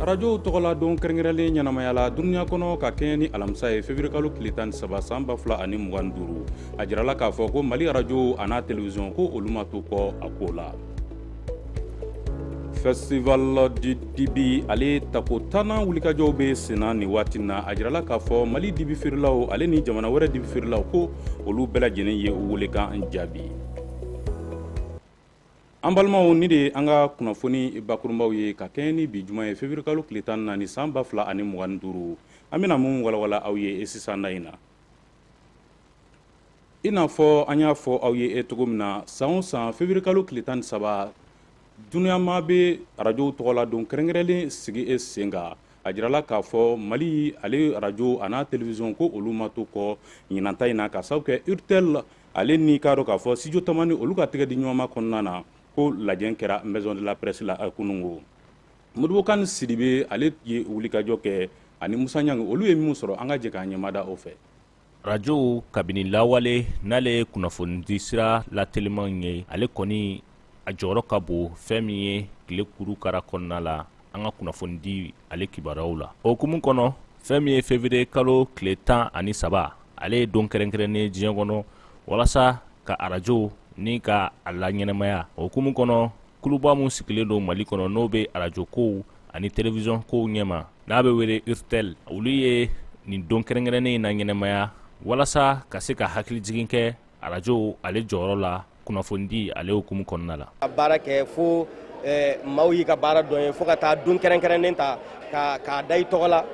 arajow tɔgɔla don kɛrɛnkɛrɛnlen ɲɛnamayala dunuya kɔnɔ ka kɛɲɛ ni alamisa ye fevirikalo tile tan ni saba san ba fila ani mugan ni duuru a jirala k'a fɔ ko mali arajow an'a telewisɔn ko olu ma to kɔ a ko la festival du dibi ale tako tannan wulikajɔw bɛ senna nin waati na a jirala k'a fɔ mali dibi feerelaw ale ni jamana wɛrɛ dibi feerelaw ko olu bɛɛ lajɛlen ye u welekan jaabi an balimaw nin de ye an ka kunnafoni bakurunbaw ye ka kɛɲɛ ni bi juma ye feburukalo tile tan ni naani san ba fila ani mugan ni duuru an bɛna min walawala aw ye e sisan na in na i n'a fɔ an y'a fɔ aw ye e cogo min na san o san feburukalo tile tan ni saba duniyama bɛ arajow tɔgɔla don kɛrɛnkɛrɛnlen sigi e sen kan a jirala k'a fɔ mali ale arajo an'a telewisɔn ko olu ma to kɔ ɲinanta in na ka sababu kɛ urtel ale ni k'a dɔn k'a fɔ studio tamani olu ka tɛgɛ di ɲɔgɔnma kɔnɔna na ko lajɛ kɛra maison de la presse la kunungo modibo kan sidibe ale ye wulikajɔ kɛ ani musa ɲangi olu ye minnu sɔrɔ an ka jɛ k'an ɲɛmada o fɛ rajow kabini lawale n'ale ye kunnafonidi sira latelimanw ye ale kɔni a jɔyɔrɔ ka bon fɛn min ye tile kuru kara kɔnɔna la an ka kunnafonidi ale kibaruyaw la o hukumu kɔnɔ fɛn min ye fevrier kalo tile tan ani saba ale ye don kɛrɛnkɛrɛnnen ye diɲɛ kɔnɔ walasa ka arajow ni ka a laɲɛnamaya o hukumu kɔnɔ kuluba min sigilen don mali kɔnɔ n'o bɛ arajo kow ani telewisɔn kow ɲɛma n'a bɛ wele urtel olu ye nin don kɛrɛnkɛrɛnnen in laɲɛnamaya walasa ka se ka hakilijigin kɛ arajo ale jɔyɔrɔ la kunnafonidi ale hukumu kɔnɔna la ka baara kɛ fo eh, maaw y'i ka baara dɔn i ye fo ka taa don kɛrɛnkɛrɛnnen ta k'a da i tɔgɔ la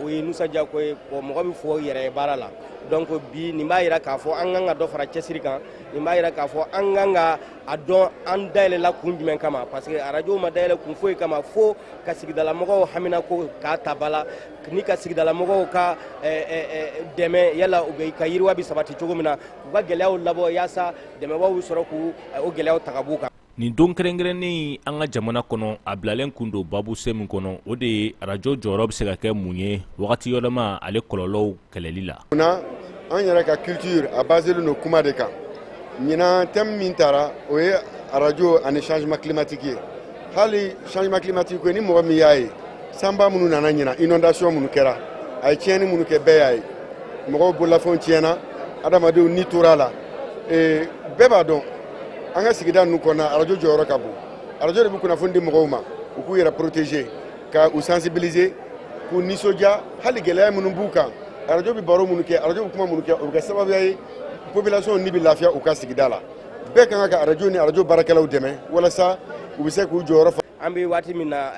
o ye nusɔndiya ko ye mɔgɔ bɛ fɔ yɛrɛ ye baara la donc bi nin b'a yira k'a fɔ an kan ka dɔ fara cɛsiri kan nin b'a yira k'a fɔ an kan ka a dɔn an dayɛlɛla kun jumɛn kama parce que arajo ma dayɛlɛ kun foyi kama fo ka sigidalamɔgɔw haminako k'a ta ba la ni ka sigidalamɔgɔw ka eh, eh, eh, dɛmɛ yala u bɛ ka yiriwa bɛ sabati cogo min na u ka gɛlɛyaw labɔ yaasa dɛmɛbaw bɛ sɔrɔ k'u o gɛlɛyaw ta ka b'u kan nin don kɛrɛnkɛrɛnnen an ka jamana kɔnɔ a bilalen kun don babu se min kɔnɔ o de ye arajo jɔyɔrɔ bɛ se ka kɛ mun ye wagati yɛlɛma ale kɔlɔlɔw kɛlɛli la. Munna an yɛrɛ ka culture a baselen don kuma de kan ɲinan thème min tara o ye arajo ani changement climatique ye hali changement climatique ko ni mɔgɔ min y'a ye sanba minnu nana ɲinan inondation minnu kɛra a ye tiɲɛni minnu kɛ bɛɛ y'a ye mɔgɔw bololafɛnw tiɲɛna adamadenw ni tora a la ee, bɛɛ b'a dɔn an ka sigida ninnu kɔnɔna arajo jɔyɔrɔ ka bon arajo de bɛ kunnafoni di mɔgɔw ma u k'u yɛrɛ protéger ka u sensibiliser k'u nisɔndiya hali gɛlɛya minnu b'u kan arajo bɛ baro minnu kɛ arajo bɛ kuma minnu kɛ o bɛ kɛ sababuya ye population ni bɛ lafiya u ka sigida la bɛɛ ka kan ka arajo ni arajo baarakɛlaw dɛmɛ walasa u bɛ se k'u jɔyɔrɔ fa an bɛ waati min na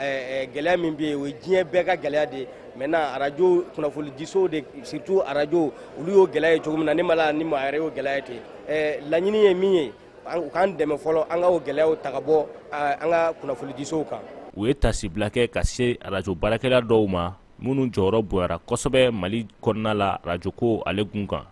gɛlɛya min bɛ yen o ye diɲɛ bɛɛ ka gɛlɛya de ye maintenant arajo kunnafonidisow de surtout arajo olu y'o gɛlɛya ye cogo min na ne ma la ni maa yɛrɛ y'o gɛlɛya ye ten laɲini ye min ye u k'an dɛmɛ fɔlɔ an ka o gɛlɛyaw ta ka bɔ an ka kunnafonidisow kan u ye tasibila kɛ ka se arajo baarakɛla dɔw ma minnu jɔyɔrɔ bonyara kosɛbɛ mali kɔnɔna la arajoko ale kun kan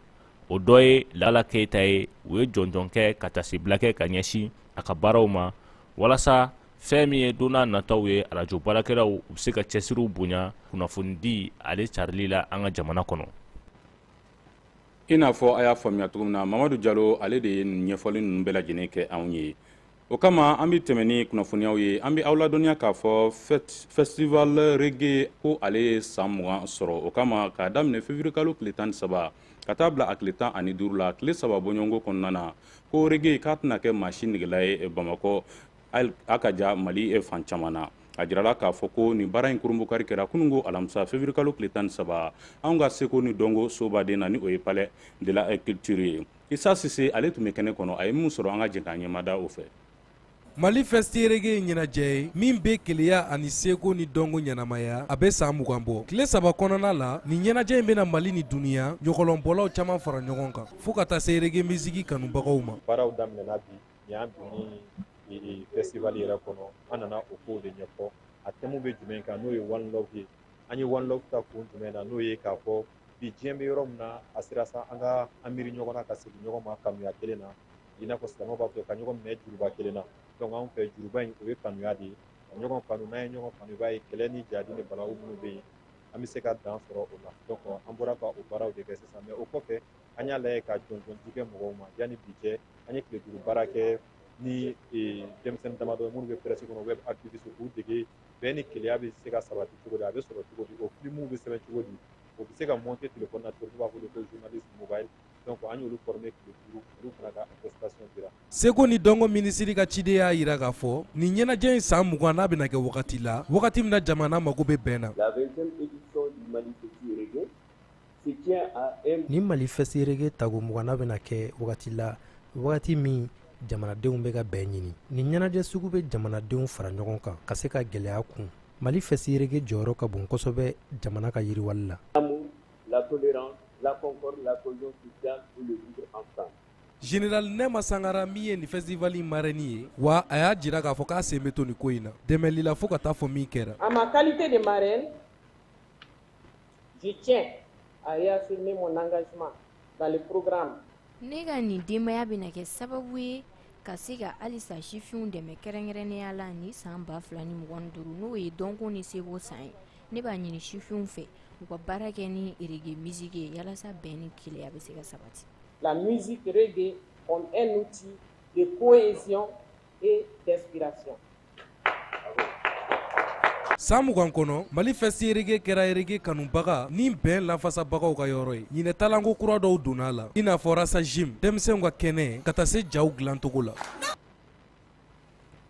o dɔ ye lala keyita ye u ye jɔnjɔn kɛ ka tasibila kɛ ka ɲɛsin a ka baaraw ma walasa fɛn min ye don n'a nataw ye arajo baarakɛlaw u bɛ se ka cɛsiriw bonya kunnafonidi ale carili la an ka jamana kɔnɔ i n'a fɔ a y'a faamuya cogo min na mamadu jalo ale de ye ɲɛfɔli ninnu bɛɛ lajɛlen kɛ anw ye o kama an bɛ tɛmɛ ni kunnafoniyaw ye an bɛ aw ladɔnniya k'a fɔ festival rege ko ale ye san mugan sɔrɔ o kama k'a daminɛ fevirikalo tile tan ni saba ka taa bila a tile tan ani duuru la tile saba bɔɲɔgɔnko kɔnɔna na ko rege k'a tɛna kɛ maa si negela ye bamakɔ a ka ja mali e fan caman na a jirala k'a fɔ ko nin baara in kurunbonkari kɛra kunungo alamisa fevirikalo tile tan ni saba anw ka seko ni dɔnko sobaden na ni o ye palais de la culture ye isa sise ale tun bɛ kɛnɛ kɔnɔ a ye min sɔrɔ an ka jɛ k'an ɲɛmada o fɛ mali festi reggae ye ɲɛnajɛ ye min bɛ kelenya ani seko ni dɔnko ɲɛnamaya a bɛ san mugan bɔ tile saba kɔnɔna la nin ɲɛnajɛ in bɛna mali ni duniya ɲɔgɔlɔnbɔlaw caman fara ɲɔgɔn kan fo ka taa se rege misiki kanubagaw ma baaraw daminɛna bi Nin y'an donni ye festival yɛrɛ kɔnɔ an nana o kow de ɲɛfɔ a thème bɛ jumɛn kan n'o ye one love ye an ye one love ta kun jumɛn na n'o ye k'a fɔ bi diɲɛ bɛ yɔrɔ min na a sera sa an ka an miiri ɲɔgɔn na ka segin ɲɔgɔn ma kanuya kelen na i n'a fɔ silamɛw b'a fɔ ka ɲɔgɔn minɛ juruba kelen na donc anw fɛ juruba in o ye kanuya de ye ka ɲɔgɔn kanu n'an ye ɲɔgɔn kanu i b'a ye kɛlɛ ni jahadi ni balawu minnu bɛ yen an bɛ se ka dan sɔrɔ o la donc an bɔra ka o baaraw de kɛ sisan mais o kɔfɛ an y'a lajɛ ka jɔnjɔndi kɛ mɔgɔw ma yanni bi cɛ an ye tile duuru baara kɛ ni e, denmisɛnnin damadɔ minnu bɛ presse kɔnɔ web activiste k'u dege bɛn ni kelenya bɛ se ka sabati cogo di a bɛ sɔrɔ cogo di o filimuw bɛ sɛbɛn cogo di o bɛ se ka monter telefɔni na cogo b'a wele ko journaliste mobile donc an y'olu former tile duuru olu fana ka attestation dira seko ni dɔnko minisiri ka ciden y'a jira k'a fɔ nin ɲɛnajɛ in san mugannan bɛna kɛ wagati la wagati min na jamana mago bɛ bɛn na la 20e édition du mali festi reggae Ni mali Festi Reggae tago 20nan bɛna kɛ wagati la wagati min jamanadenw bɛ ka bɛn ɲini ni ɲɛnajɛ sugu bɛ jamanadenw fara ɲɔgɔn kan ka se ka gɛlɛya kun mali Festi Reggae jɔyɔrɔ ka bon kosɛbɛ jamana ka yiriwali la général nɛma sangara min ye nin festival marraine ye wa a y'a jira k'a fɔ k'a sen bɛ to ni ko in na dɛmɛli la fo ka taa fɔ min kɛra Je tiens à réaffirmer mon engagement dans le programme. Ne ka nin denbaya bɛna kɛ sababu ye ka se ka halisa sifinw dɛmɛ kɛrɛnkɛrɛnnenya la ni san ba fila ni mugan ni duuru n'o ye dɔnko ni seko san ye ne b'a ɲini sifinw fɛ u ka baara kɛ ni rege miziki ye yalasa bɛn ni kelenya bɛ se ka sabati la musique reggae comme un outil de cohésion et d'inspiration. San mugan kɔnɔ mali Festi Reggae kɛra reggae kanubaga ni bɛn lafasabagaw ka yɔrɔ ye ɲinan talanko kura dɔw donna a la i n'a fɔ Rasa Jim denmisɛnw ka kɛnɛ ka taa se jaw dilancogo la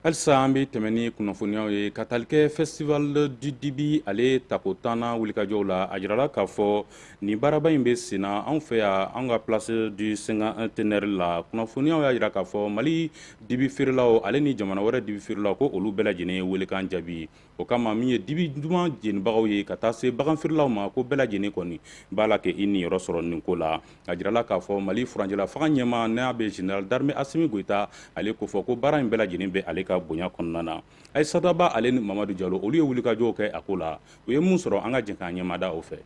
halisa an bɛ tɛmɛn ni kunnafoniyaw ye ka talikɛ festival du dibi ale tako tannan wulikajɔw la a jirala k'a fɔ Nin baaraba in bɛ sen na anw fɛ yan an ka place du cinquantenaire la kunnafoniyaw y'a jira k'a fɔ mali dibi feerelaw ale ni jamana wɛrɛ dibi feerelaw ko olu bɛɛ lajɛlen ye weelekan jaabi o kama min ye dibi duman jenibagaw ye ka taa se bagan feerelaw ma ko bɛɛ lajɛlen kɔni b'a la kɛ i niyɔrɔ sɔrɔ nin ko la a jirala k'a fɔ mali furancɛla fanga ɲɛmaa n'a bɛ général d'armée Assimi Goïta ale kofɔ ko baara in bɛɛ lajɛlen bɛ ale ka bonya kɔnɔna na Aïssata Ba ale ni Mamadu Jalo olu ye wulikajɔw kɛ a ko la u ye mun sɔrɔ an ka jɛn k'an ɲɛmada o fɛ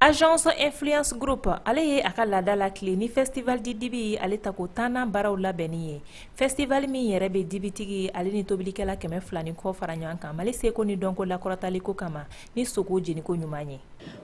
Agence Influence Group ale ye a ka laada latilen ni festival du dibi ale tako tannan baaraw labɛnni ye festival min yɛrɛ bɛ dibitigi ale ni tobilikɛla kɛmɛ fila ni kɔ fara ɲɔgɔn kan mali seko ni dɔnko lakɔrɔtali ko kama ni sogo jeniko ɲuman ye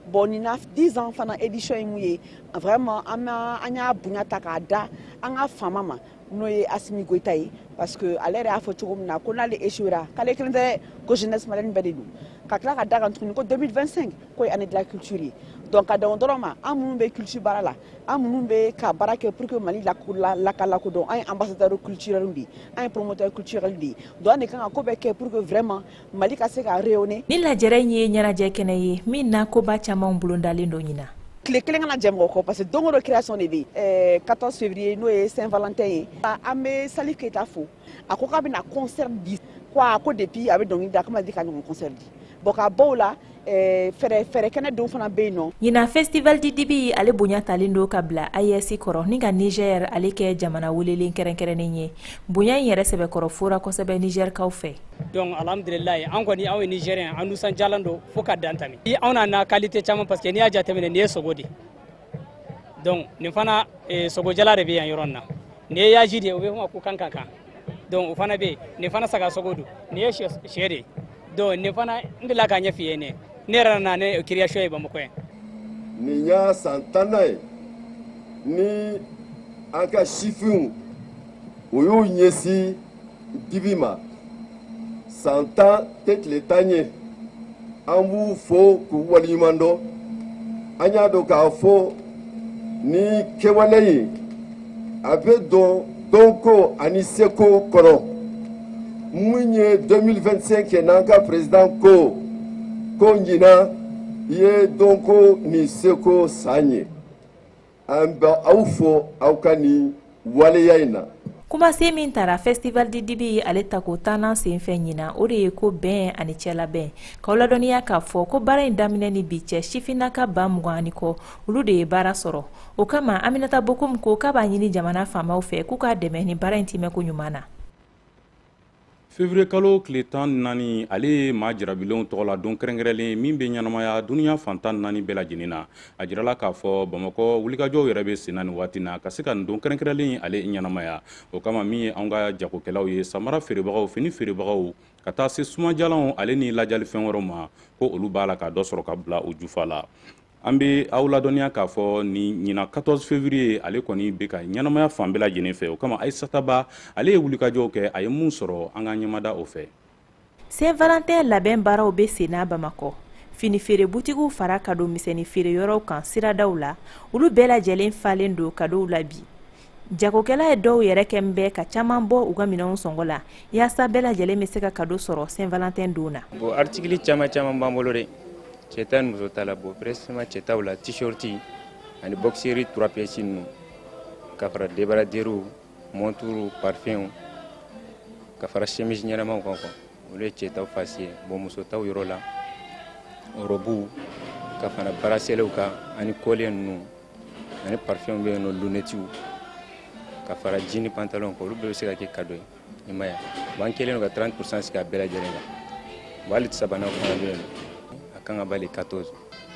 bon nin na 10 ans fana édition ye min ye vraiment an y'a bonya ta k'a da an ka faama ma n'o ye Assimi Goïta ye parce que ale yɛrɛ y'a fɔ cogo min na ko n'ale échouera k'ale kelen tɛ ko jeunesse malienne bɛɛ de don ka tila ka da kan tuguni ko 2025 ko ye année de la culture ye donc ka dan o dɔrɔn ma an minnu bɛ culture baara la an minnu bɛ ka baara kɛ pour que mali laka lakodɔn an ye ambassadeur culturel de ye an ye promoteur culturel de ye donc an de kan ka ko bɛɛ kɛ pour que vraiment mali ka se ka rayonner ni lajɛrɛ in ye ɲɛnajɛ kɛnɛ ye min na koba camanw bolodalen don ɲinan tile kelen kana jɛ mɔgɔ kɔ parce que don o don création de bɛ yen 14 février n'o ye saint valentin ye an bɛ Salif Keita fo a ko k'a bɛna concert di ko a ko depuis a bɛ dɔnkili da k'a ma deli k'a ɲɔgɔn concert di bon ka bɔ o la Eh, fɛrɛ kɛnɛ dɔ fana bɛ yen nɔ ɲinan festival du dibi ale bonya talen don ka bila AES kɔrɔ ni ka Niger ale kɛ jamana welelen kɛrɛnkɛrɛnnen ye bonya in yɛrɛ sɛbɛkɔrɔ fora kosɛbɛ Nigerkaw fɛ donc alhamdulilayi an kɔni anw ye Nigérien an nusanjalen don fo ka dan tɛmɛ anw nana qualité caman parce que n'i y'a jateminɛ nin ye sogo de ye donc nin fana eh, sogojalan de bɛ yan yɔrɔ nin na nin ye yaji de ye o bɛ fɔ a ma ko kankankan donc o fana bɛ yen nin fana saga sogo don nin ye syɛ de ye donc nin fana n delila k'a ɲɛf'i ye ne ne yɛrɛ nana ni création ye bamakɔ yan nin y'a san tannan ye ni an ka sifinw o y'u ɲɛsin dibi ma san tan tɛ tile tan ye an b'u fo k'u waleɲuman dɔn an y'a dɔn k'a fɔ nin kɛwale in a bɛ don dɔnko ani seko kɔnɔ min ye 2025 kɛ n'an ka président ko ko ɲinan ye dɔnko ni seko san ye An bɛ aw fo aw ka nin waleya in na. Kumasen min tara festival du dibi ye ale tako tannan senfɛ ɲinan, o de ye ko bɛn ani cɛlabɛn, k'aw ladɔnniya k'a fɔ ko baara in daminɛ ni bi cɛ sifinnaka ba mugan ani kɔ, olu de ye baara sɔrɔ. O kama Aminata Bokoum ko k'a b'a ɲini jamana faamaw fɛ k'u k'a dɛmɛ nin baara in tiimɛko ɲuman na. février kalo tile tan naani ale ye maa jarabilenw tɔgɔ la don kɛrɛnkɛrɛnlen min bɛ ɲɛnamaya duniɲa fan tan naani bɛɛ lajɛlen na a jirala k'a fɔ bamakɔ wulikajɔw yɛrɛ bɛ senna nin waati na ka se ka nin don kɛrɛnkɛrɛnlen ale ɲɛnamaya o kama min ye anw ka jagokɛlaw ye samara feerebagaw fini feerebagaw ka taa se sumajalanw ale ni lajali fɛn wɛrɛw ma ko olu b'a la ka dɔ sɔrɔ ka bila u jufa la an bɛ aw ladɔnniya k'a fɔ nin ɲinan 14 février ale kɔni bɛ ka ɲɛnamaya fan bɛɛ lajɛlen fɛ o kama ayisata ba ale ye wulikajɔw kɛ a ye mun sɔrɔ an ka ɲɛmada o fɛ saint valentin labɛn baaraw bɛ senna bamakɔ fini feere butigiw fara kado misɛnni feere yɔrɔw kan siradaw la olu bɛɛ lajɛlen falen don kadow la bi Jagokɛla in dɔw yɛrɛ kɛlen bɛ ka caman bɔ u ka minɛnw sɔngɔ la yaasa bɛɛ lajɛlen bɛ se ka kado sɔrɔ Saint Valentin don na bon article caman caman b'an bolo dɛ cɛ ta ni muso ta la bon précisément cɛ ta la t-shirt ani boxer trois pièces ninnu ka fara débardeur montre parfum ka fara chemise ɲɛnamaw kan quoi olu ye cɛ ta fasi ye bon muso ta yɔrɔ la robu ka fara braceletw kan ani collier ninnu ani parfɛnw bɛ yen nɔ lunetiw ka fara jini pantalon kan olu bɛɛ bɛ se ka kɛ kado ye i m'a ye wa an kɛlen don ka 30 pourcent sigi a bɛɛ lajɛlen kan wa hali sabanan fana bɛ yen a kan k'a emballer 14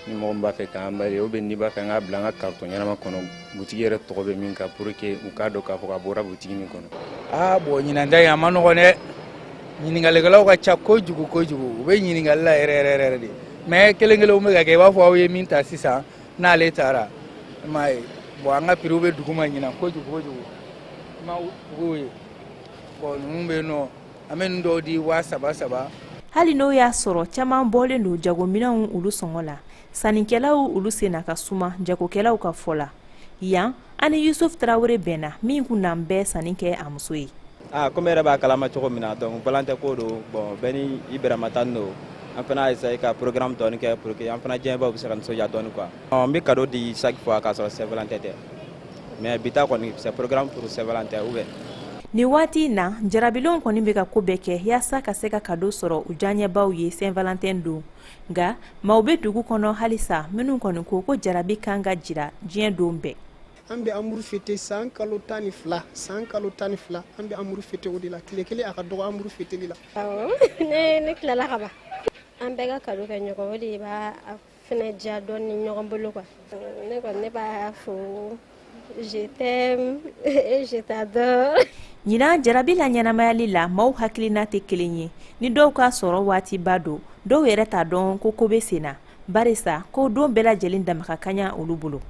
ni mɔgɔ min b'a fɛ k'a emballer ou bien n'i b'a fɛ an k'a bila an ka kartɔn ɲɛnama kɔnɔ butigi yɛrɛ tɔgɔ bɛ min kan pour que u k'a dɔn k'a fɔ k'a bɔra butigi min kɔnɔ aa bɔn ɲinan ta in a ma nɔgɔn dɛ ɲininkalikɛlaw ka ca kojugu kojugu u bɛ ɲininkali la yɛrɛ yɛrɛ yɛrɛ de mais kelen kelenw bɛ ka kɛ i b'a fɔ aw ye min ta sisan n'ale taara i m'a ye bɔn an ka piriw bɛ duguma ɲinan kojugu kojugu i ma tuguw ye bɔn ninnu bɛ yen nɔ an bɛ ninnu dɔw di waa saba saba hali n'o y'a sɔrɔ caman bɔlen don jagominɛnw olu sɔngɔ la sannikɛlaw olu senna ka suma jagokɛlaw ka fɔ la yan an ni yusufu tarawele bɛnna min kun nalen bɛ sanni kɛ a muso ye ah, komi i yɛrɛ b'a kalama cogo min na donc valentin ko don bon bɛɛ ni i bɛrɛma ta don an fana essaye ka programme dɔɔni kɛ pour que an fana diyaɲɛbaw bɛ se ka nisɔndiya dɔɔni quoi n bɛ cadeau di chaque fois k'a sɔrɔ saint valentin tɛ mais bi ta kɔni c'est programmé pour saint valentin ou bien nin waati in na jarabilenw kɔni bɛ ka ko bɛɛ kɛ yaasa ka se ka kado sɔrɔ u diyaɲɛbaw ye saint valentin don nka maaw bɛ dugu kɔnɔ halisa minnu kɔni ko ko jarabi kan ka jira diɲɛ don bɛɛ an bɛ amuru fete san kalo tan ni fila san kalo tan ni fila an bɛ amuru fete o de la tile kelen a ka dɔgɔ amuru feteli la ne tilala ka ban an bɛɛ ka kado kɛ ɲɔgɔn o de b'a fɛnɛ diya dɔɔni ɲɔgɔn bolo kuwa ne kɔni ne b'a fɔ Je t'aime et je t'adore. Ɲinan jarabi la ɲɛnamayali la maaw hakilina tɛ kelen ye ni dɔw ka sɔrɔ waatiba don dɔw yɛrɛ t'a dɔn ko ko bɛ sen na barisa ko don bɛɛ lajɛlen dama ka kaɲa olu bolo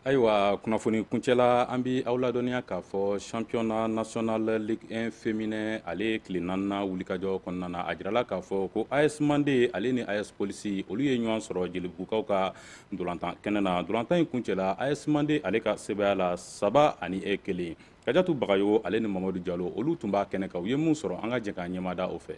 ayiwa kunnafoni kuncɛla an bi aw ladɔnniya k'a fɔ championnat national ligue 1 féminin ale tile naaninan wulikajɔ kɔnɔna na a jirala k'a fɔ ko as mande ale ni as polisi olu ye ɲɔgɔn sɔrɔ jelibugukaw ka dolantan kɛnɛ na dolantan in kuncɛla as mande ale ka sebaaya la saba ani e kelen kajatu bagayogo ale ni mamadu jalo olu tun b'a kɛnɛ kan u ye min sɔrɔ an ka jɛ k'an ɲɛmada o fɛ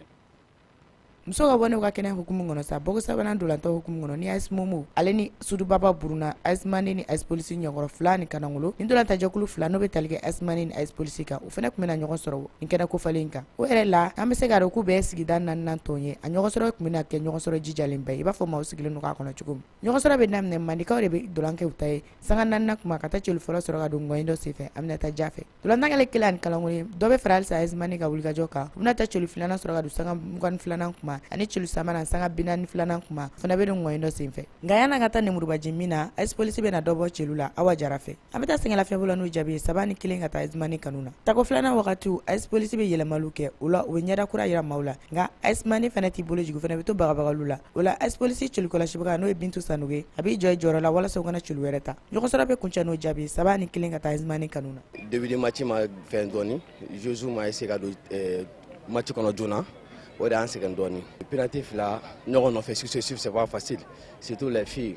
muso ka bɔ n'u ka kɛnɛ hukumu kɔnɔ sa bɔko sabanan dolantan hukumu kɔnɔ ni as momo ale ni sudubaba buruna as mande ni as polisi ɲɛkɔrɔ fila ni kanangolo ni dolantajɛkulu fila n'o bɛ tali kɛ as mande ni as polisi kan u fana tun bɛna ɲɔgɔn sɔrɔ nin kɛnɛ kofalen kan o yɛrɛ la an bɛ se k'a dɔn k'u bɛɛ sigida naaninan tɔn ye a ɲɔgɔnsɔrɔ tun bɛna kɛ ɲɔgɔnsɔrɔ jijalen ba ye i b'a fɔ maaw sigilen don k'a kɔnɔ cogo min ɲɔgɔnsɔrɔ bɛ daminɛ mandekaw de bɛ dolan kɛ u ta ye sanga naaninan tuma ka taa celu fɔlɔ sɔrɔ ka don ngɔyen dɔ senfɛ aminata ja fɛ dolantan kɛlen kelen ani kanangolo ye dɔ bɛ fara halisa as mande ka wulikajɔ kan u bɛna taa celu filanan sɔrɔ ka don sanga mugan ni filanan kuma ani celu sabanan sanga bi naani filanan kuma fana bɛ don ngɔyen dɔ senfɛ nka yan'a ka taa nemurubaji min na as polisi bɛna dɔ bɔ celu la awa jara fɛ an bɛ taa sɛgɛnlafiɲɛbɔ la n'o jaabi ye saba ni kelen ka taa AS Mande kanu na tako filanan wagatiw AS Polisi bɛ yɛlɛmaliw kɛ o la u bɛ ɲɛda kura jira maaw la nka AS Mande fana t'i bolo jigin fana bɛ to bagabagaliw la o la AS Polisi celu kɔlɔsibaga n'o ye bintu sanogo ye a b'i jɔ i jɔyɔrɔ la walasa u kana celu wɛrɛ ta ɲɔgɔnsɔrɔ bɛ kuncɛ n'o jaabi saba ni kelen ka taa AS Mande kanu na début de match ma fɛn dɔɔni joueusew ma essayer ka don eh, match kɔnɔ joona o de y'an sɛgɛn dɔɔni penaliti fila ɲɔgɔn nɔfɛ successif c'est pas facile surtout les filles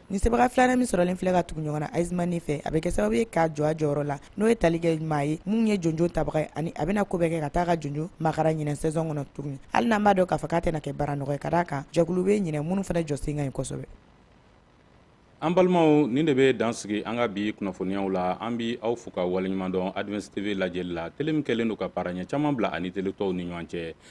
Ni sebaga filanan min sɔrɔlen filɛ ka tugu ɲɔgɔn na AS Mande fɛ a bɛ kɛ sababu ye k'a jɔ a jɔyɔrɔ la n'o ye tali kɛ maa ye min ye jɔnjɔn tabaga ani a bɛna ko bɛɛ kɛ ka taa ka jɔnjɔn makaran ɲinɛ saison kɔnɔ tuguni hali n'an b'a dɔn k'a fɔ k'a tɛna kɛ baara nɔgɔn ye ka d'a kan jɛkulu bɛ ɲinɛ minnu fana jɔ sen ka ɲi kosɛbɛ an balimaw nin de bɛ dan sigi an ka bi kunnafoniyaw la an bɛ aw fo ka waleɲumandɔn Advance TV lajɛli la tele min kɛlen don ka baara ɲɛ caman bila a ni tele tɔw ni ɲɔgɔn cɛ